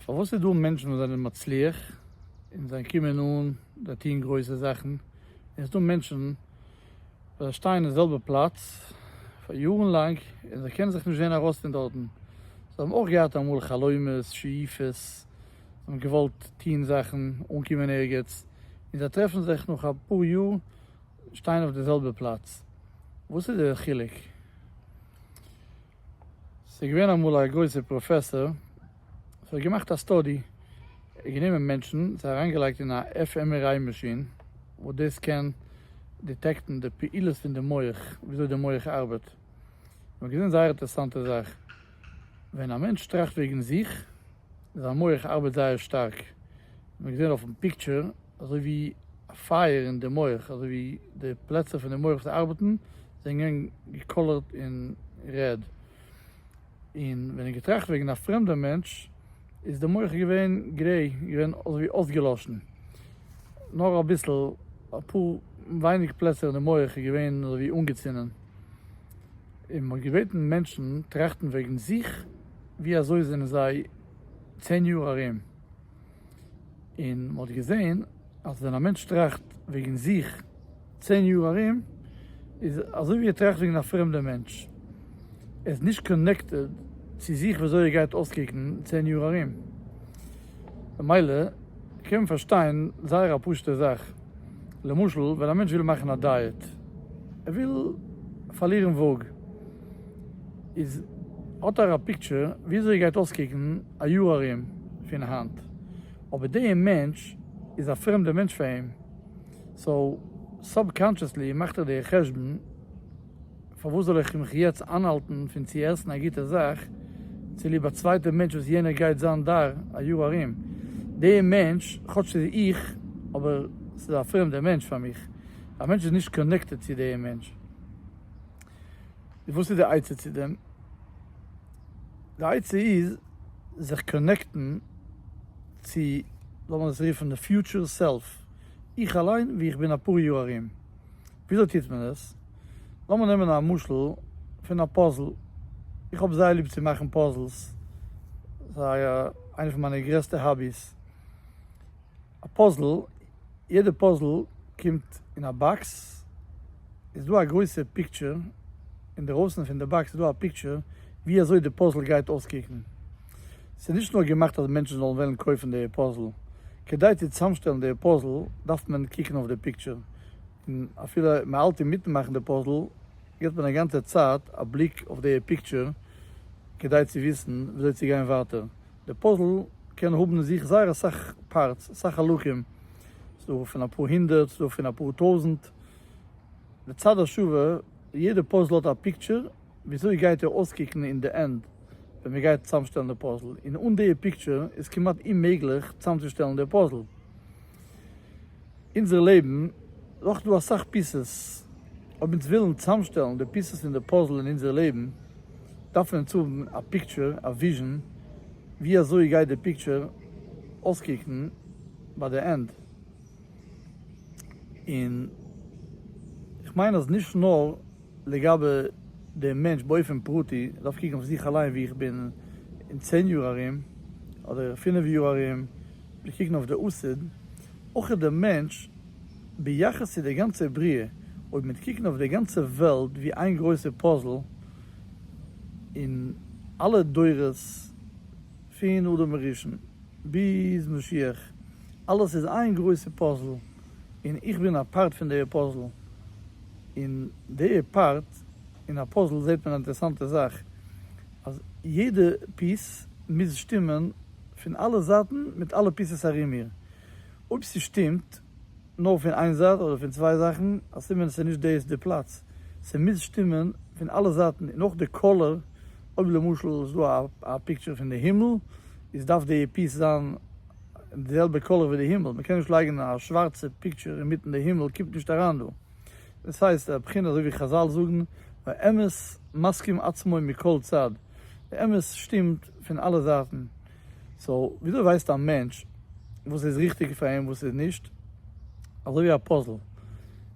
פארוואס איז דא מענטשן וואס זענען מצליח און זיי קומען אן זיי טוען גרויסע זאכן און עס איז דא מענטשן וואס זיי שטייען אין זעלבע פלאץ פאר יארן לאנג און זיי קענען זיך נישט זען ארויס פון דארטן, זיי האבן אויך געהאט אמאל חלומות שאיפות, זיי האבן געוואלט טון זאכן, אנקומען ערגעץ, און זיי טרעפן זיך נאך אפאר יאר שטיין אויף די זעלבע פלאץ, וואס איז די חילוק? ס'איז געווען אמאל א גרויסער פראפעסאר, וואס האט געמאכט א סטאדי, ער האט גענומען מענטשן, זיי אריינגעלייגט אין א FMRI מאשין, וואס דאס קען דיטעקטן די פעילות פון די מח, וויאזוי די מח ארבעט. מ'האט געזען זייער אינטערעסאנטע זאך, ווען א מענטש טראכט וועגן זיך, זיין מח ארבעט זייער שטארק, מען האט געזען אויפן פיקטשער אזוי ווי א פייער אין די מח, אזוי ווי די פלעצער פון די מח וואס ארבעטן זענען געווען געקאלערט אין רעד, און ווען ער האט געטראכט וועגן א פרעמדע מענטש איז די מח געווען גרעי, געווען אזוי ווי אויסגעלאשן, נאר אביסל אפאר ווייניג פלעצער אין די מח איז געווען אזוי ווי אנגעצינדן, און מען האט געבעטן מענטשן טראכטן וועגן זיך ווי אזוי זענען זיי צען יאר ארום, און מען האט געזען אז ווען א מענטש טראכט וועגן זיך צען יאר ארום, איז אזוי ווי ער טראכט וועגן א פרעמדע מענטש, ער איז נישט קאנעקטעד צו זיך ווי אזוי ער גייט אויסקוקן צען יאר ארום, במילא קען מען פארשטיין זייער א פשוט'ע זאך, למשל ווען א מענטש וויל מאכן א דייעט, ער וויל פארלירן וואג, איז האט ער א פיקטשער וויאזוי גייט אויסקוקן א יאר ארום פון היינט, אבער די מענטש איז א פרעמדע מענטש פאר אים, סאו סאב קאנטשעסלי מאכט ער די חשבון פארוואס זאל איך מיך יעצט איינהאלטן פון צו עסן א גוטע זאך צוליב א צווייטע מענטש וואס יענער גייט זיין דאר א יאר ארום, די מענטש כאטש ס'איז איך אבער ס'איז א פרעמדע מענטש פאר מיך, א מענטש איז נישט קאנעקטעד צו די מענטש. און וואס איז די עצה צו דעם? די עצה איז זיך קאנעקטן צו, לאמיר עס רופן, די פיוטשער סעלף, איך אליין ווי איך בין אפאר יאר ארום. וויאזוי טוט מען עס? לאמיר נעמען א משל פון א פאזל, איך האב זייער ליב צו מאכן פאזלס, ס'איז איינע פון מיינע גרעסטע האביס, א פאזל, יעדע פאזל קומט אין א באקס, איז דא א גרויסע פיקטשער, אינדערויסן פון די באקס איז דא א פיקטשער ווי אזוי די פאזל גייט אויסקוקן, ס'איז נישט נאר געמאכט אז מענטשן זאלן וועלן קויפן די פאזל, כדי צו צוזאמשטעלן די פאזל דארף מען קוקן אויף די פיקטשער, און אפילו מען האלט אינמיטן מאכן די פאזל גיבט מען א גאנצע צייט א בליק אויף די פיקטשער כדי צו וויסן וויאזוי צו גיין ווייטער, די פאזל קען האבן אין זיך זייער אסאך פארטס, אסאך חלקים, ס'איז דא פון אפאר הונדערט, ס'איז דא פון אפאר טויזנט. לצד השווה, יעדע פאזל האט א פיקטשער וויאזוי גייט ער אויסקוקן אין די ענד ווען מען גייט צוזאמשטעלן די פאזל, און אן די פיקטשער איז כמעט אוממעגליך צוזאמצושטעלן די פאזל. אונזער לעבן איז אויך דא אסאך פיסעס, אויב אונז ווילן צוזאמשטעלן די פיסעס פון די פאזל אין אונזער לעבן, דארף אונז האבן א פיקטשער, א וויזשען, ווי אזוי גייט די פיקטשער אויסקוקן ביי די ענד, און איך מיין אז נישט נאר לגבי דעם מענטש באופן פרטי, איך דארף קוקן אויף זיך אליין ווי איך בין אין צען יאר ארום, אדער פינף יאר ארום, מיר קוקן אויף די אסד, אויך איז דער מענטש, ביחס צו דער גאנצער בריאה, אויב מיר קוקן אויף דער גאנצער וועלט ווי איין גרויסער פאזל, און אלע דורות, פון אדם הראשון ביז משיח, אלעס איז איין גרויסער פאזל, און איך בין א פארט פון דער פאזל, און דער פארט אין א פאזל זעט מען א אינטערעסאנטער זאך, אז יעדע פיס מוז שטימען פון אלע זייטן מיט אלע פיסעס ארום איר, אויב ס'שטימט נאר פון איין זייט אדער פון צוויי זאכן א סימן ס'איז נישט דעיס די פלאץ, ס'מוז שטימען פון אלע זייטן און אויך די קאלער, אויב למשל איז דא א פיקטשער פון די הימל איז דארף די פיס זיין די זעלבע קאלער ווי די הימל, מ'קען נישט לייגן א שווארצע פיקטשער אינמיטן די הימל קומט נישט אריין דא. דאס הייסט א בחינה אזוי ווי חזל זאגן והאמת מסכים עצמו מכל צד, די אמת שטימט פון אלע זייטן, סאו וויאזוי ווייסט א מענטש וואס איז ריכטיג פאר אים וואס איז נישט? אזוי ווי א פאזל,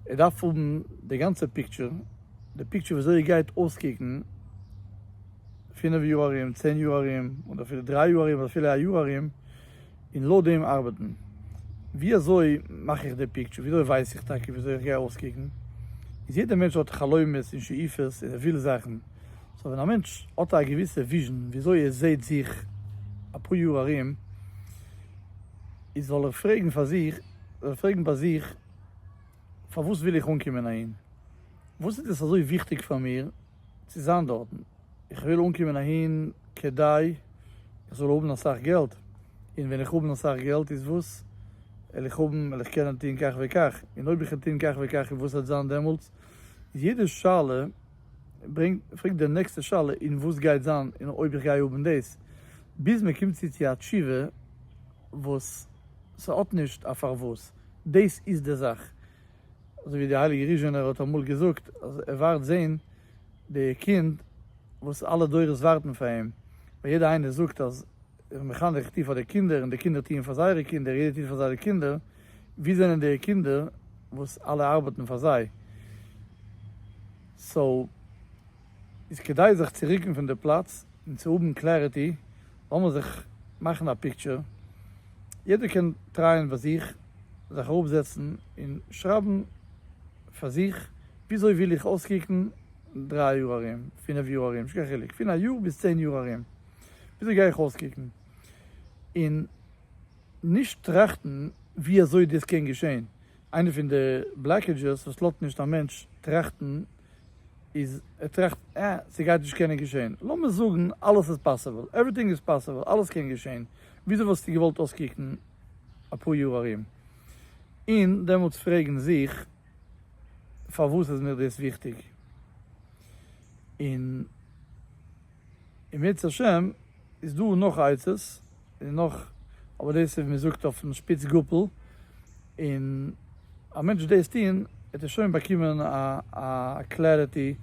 ער דארף האבן די גאנצע פיקטשער, די פיקטשער וויאזוי ער גייט אויסקוקן פינף יאר ארום, צען יאר ארום, אדער אפילו דריי יאר ארום, אדער אפילו א יאר ארום, און לויט דעם ארבעטן. ווי אזוי מאך איך די פיקטשער? ווי אזוי ווייס איך טאקע ווי אזוי איך גיי אויסקוקן? איז יעדער מענטש האט חלומות און שאיפות און ער וויל זאכן. סאו ווען א מענטש האט א געוויסע וויזשן ווי אזוי ער זעהט זיך אפאר יאר ארום, איז זאל ער פרעגן פאר זיך, זאל ער פרעגן ביי זיך פארוואס וויל איך אנקומען אהין? וואס איז דאס אזוי וויכטיג פאר מיר צו זיין דארטן? איך וויל אנקומען אהין כדי איך זאל האבן אסאך געלט, און ווען איך האבן אסאך געלט איז וואס על איך האבן? על איך קענען טון כך וכך? און אויב איך קען טון כך וכך איז וואס העט זיין דעמאלטס? יעדע שאלה ברענגט פרעגט די נעקסטע שאלה און וואס גייט זיין און אויב איך גיי האבן דאס? ביז מען קומט צו צו א תשובה וואס ס'האט נישט א פארוואס. דאס איז די זאך. אזוי ווי די הייליגע ריזשענער האט אמאל געזאגט אז ער ווארט זעהן די קינד וואס אלע דורות ווארטן פאר אים, ווייל יעדער איינער זאגט אז איך בין מחנך איך טוה פאר די קינדער און די קינדער טוען פאר זייערע קינדער יעדער טוט פאר זייערע קינדער, ווי זענען די קינדער וואס אלע ארבעטן פאר זיי? סאו. איז כדאי זיך צו רוקן פון די פלאץ און צו האבן קלעריטי, לאמיר זיך מאכן א פיקטשער, יעדער קען טרייען ביי זיך, זיך אראפזעצן און שרייבן פאר זיך, וויאזוי וויל איך אויסקוקן דרײַ יאר ארום, פינף יאר ארום, נישט קיין חילוק, פון א יאר ביז צען יאר ארום, וויאזוי גיי איך אויסקוקן? און נישט טראכטן ווי אזוי דאס קען געשען, איינע פון די בלאקעדזשעס וואס לאזט נישט א מענטש טראכטן איז ער טראכט אה ס'גייט נישט קענען געשעהן, לאמיר זאגן אלעס איז פאסיבל, עווריטינג איז פאסיבל, אלעס קען געשעהן, וויאזוי וואלסטו געוואלט אויסקוקן אפאר יאר ארום? און דעמאלטס פרעגן זיך פארוואס איז מיר דאס וויכטיג? און אם ירצה השם איז דא נאך עצות. און נאך, אבער דאס איז ווי מען זאגט אויפן שפיץ גאפל, און א מענטש דאס טוהן וועט ער שוין באקומען א קלעריטי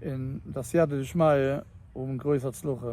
און די סייעתא דשמיא האבן גרויס הצלחה.